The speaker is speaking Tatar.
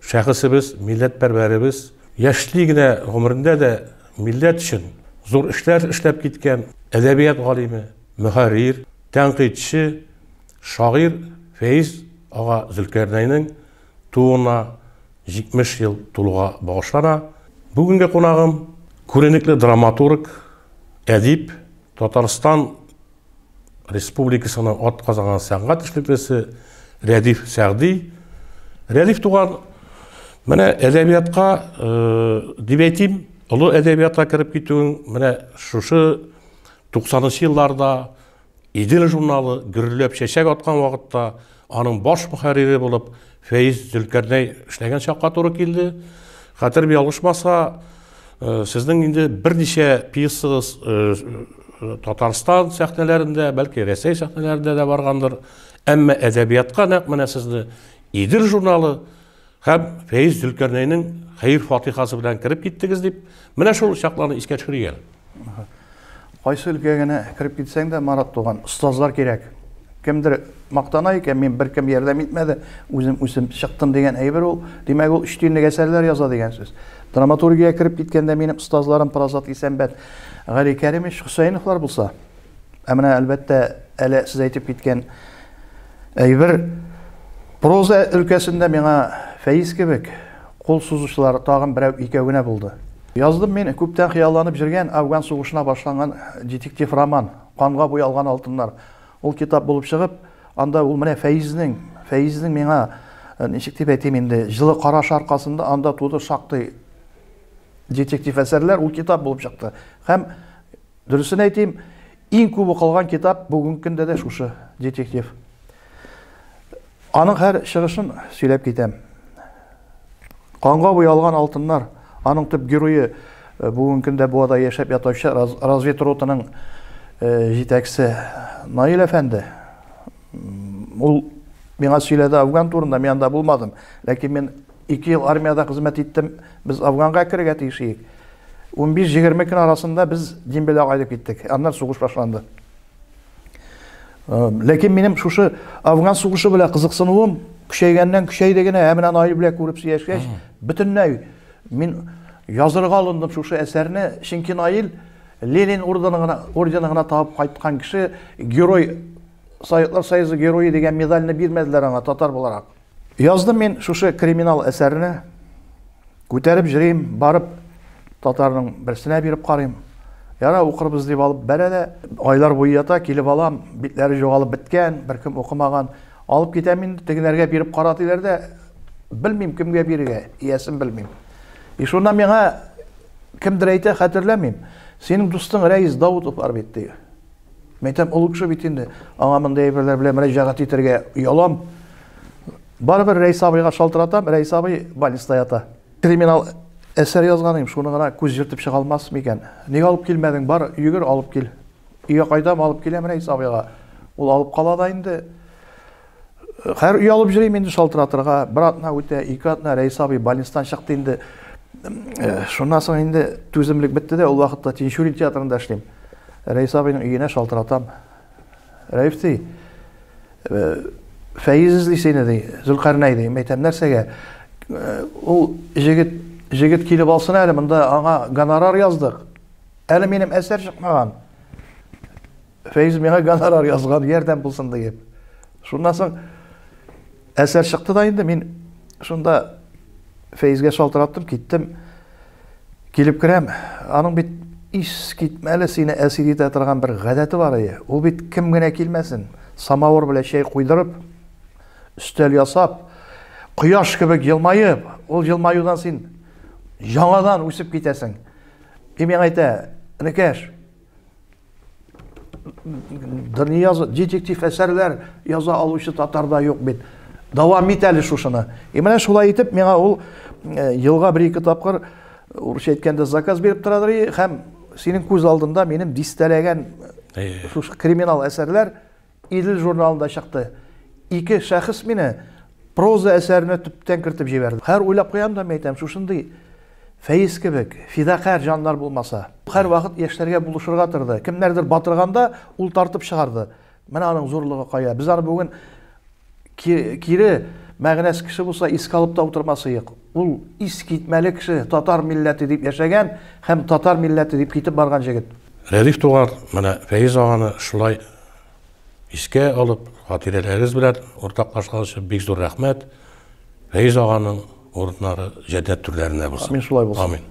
Шәхесебез, милләтпәрвәребез яшьли генә гомерендә дә милләт өчен зур эшләр эшләп киткән әдәбият галиме, мөхәррир, тәнкыйтьче, шагыйрь Фәиз ага Зөлкарнәйнең тууына 70 ел тулуга багышлана. Бүгенге кунагым, күренекле драматург, әдип, Татарстан Республикасының атказанган сәнгать эшлеклесе Рәдиф Сәгъди. Рәдиф туган, менә әдәбиятка, дип әйтим, олы әдәбиятка кереп китүең, менә шушы 90 нчы елларда Идел журналы гөрләп чәчәк аткан вакытта Аның баш мөхәррире булып Фәиз Зөлкәрнәй эшләгән чакка туры килде. Хәтерем ялгышмаса, э, сезнең инде берничә пьесагыз э, э, Татарстан сәхнәләрендә, бәлки Рәсәй сәхнәләрендә дә баргандыр. Әмма әдәбиятка нәкъ менә сезне Идел журналы Һәм Фәиз Зөлкәрнәйнең хәер-фатихасы белән кереп киттегез дип, менә шул чакларны искә төшерик әле. Кайсы өлкәгә генә кереп китсәң дә, Марат туган, остазлар кирәк. Кемдер мактана икән, мин беркем ярдәм итмәде, үзем үсеп чыктым дигән әйбер ул. Димәк, ул өч тиенлек әсәрләр яза дигән сүз. Драматургиягә кереп киткәндә минем остазларым Парасат Исәнбәт, Гали Кәримович Хөсәеновлар булса. Ә менә, әлбәттә, әле сез әйтеп киткән Әйбер проза өлкәсендә миңа Фәиз кебек кул сузучылар тагын берәү-икәү генә булды. Яздым мин күптән хыялланып җөргән Афган сугышына башланган детектив роман Канга буялган алтыннар. Ул китап булып чыгып, анда ул менә Фәизнең, Фәизнең миңа, ничек дип әйтим инде, җылы карашы аркасында анда туды шактый детектив әсәрләр, ул китап булып чыкты. Һәм Дөресен әйтим, иң күп укылган китап бүгенге көндә дә шушы детектив. Аның һәр чыгышын сөйләп китәм. Канга буялган алтыннар, аның төп герое Э, бүгінгі күндә буада яшәп ятучы разведротының э, җитәкчесе наил әфәнде ул миңа сөйләде афган турында мин анда булмадым ләкин мин Ике ел армиядә хезмәт иттем. Без Афганга керергә тиеш идек. Унбиш, егерме көн арасында без Дембеләгә кайтып киттек. Аннан сугыш башланды. Ләкин минем шушы Афган сугышы белән кызыксынуым көчәйгәннән көчәйде генә, ә менә Наил белән күреп сөйләшкәч, бөтенләй мин язырга алындым шушы әсәрне, чөнки Наил Ленин ордены гына, ордены гына табып кайткан кеше, герой, Советлар Союзы герое дигән медальне бирмәделәр аңа татар буларак. Яздым мин шушы криминал әсәрне. Күтәреп җөрим, барып татарның берсенә биреп карыйм. Яра укырбыз дип алып бәрә дә, айлар буе ята, килеп алам, битләре жогалып беткән, беркем укымаган. Алып китәм инде, тегеләргә биреп кара диләр дә, белмим кемгә бирергә, иясен белмим. И шунда миңа кемдер әйтә, хәтерләмим. Синең дустың Рәис Даутов бар бит, ди. Мин әйтәм, олы кеше бит инде, аңа мондый әйберләр белән мөрәҗәгать итәргә оялам. Барыбер Рәис абыйга шалтыратам, Рәис абый больниста ята. Криминал әсәр язган идем, шуны гына күз җыртып чыга алмас микән? Ник алып килмәдең? Бар, йөгер, алып кил. Өйгә кайдам, алып киләм Рәис абыйга. Ул алып кала да инде. Хәр уялып йөрим инде шалтыратырга. Бер атна үтә, ике атна Рәис абый больницадан чыкты инде. Э, шуннан соң инде түземлек бетте дә, ул вакытта Тинчурин театрында эшлим. Рәис абыйның өенә шалтыратам. Рәиф ди, э, Фәиз эзли сине ди, Зөлкарнәй ди. Мәйтәм, нәрсәгә? Э, ул җегет, җегет килеп алсын әле, монда аңа гонорар яздык. Әле минем әсәр чыкмаган. Фәйз миңа гонорар язган, ярдәм булсын диеп. Шуннан соң әсәр чыкты да инде мин шунда Фәйзгә шалтыраттым, киттем. Килеп керәм, аның бит ис китмәле сине әсир итә торган бер гадәте бар ие. Ул бит кем генә килмәсен, самавыр белән чәй куйдырып, өстәл ясап, кояш кебек елмаеп, ул елмаюдан син яңадан үсеп китәсең. И миңа әйтә, Энекәш, дания детектив әсәрләр яза алучы татарда юк бит дәвам ит әле шушыны и менә шулай итеп миңа ул э, елга бер ике тапкыр урысча әйткәндә заказ биреп торадыр һәм синең күз алдында минем дистәләгән э, шушы криминал әсәрләр Идел журналында чыкты. Ике шәхес мине проза әсәренә төптән кертеп җибәрде. Хәр уйлап куям да мин әйтәм, шушындый Фәиз кебек фидакарь җаннар булмаса. Хәр вакыт яшьләргә булышырга торды. Кемнәрдер батырганда, ул тартып чыгарды. Менә аның зурлыгы кая. Без аны бүген кире мәгънәс кеше булса искә алып та утырмасыек. Ул искитмәле кеше, татар милләте дип яшәгән һәм татар милләте дип китеп барган җегет. Рәдиф туган, менә Фәиз аганы шулай искә алып, хатирәләрегез белән уртаклашкан өчен бик зур рәхмәт. Фәиз аганың урыннары җәннәт түрләрендә булсын. Амин, шулай булсын. Амин.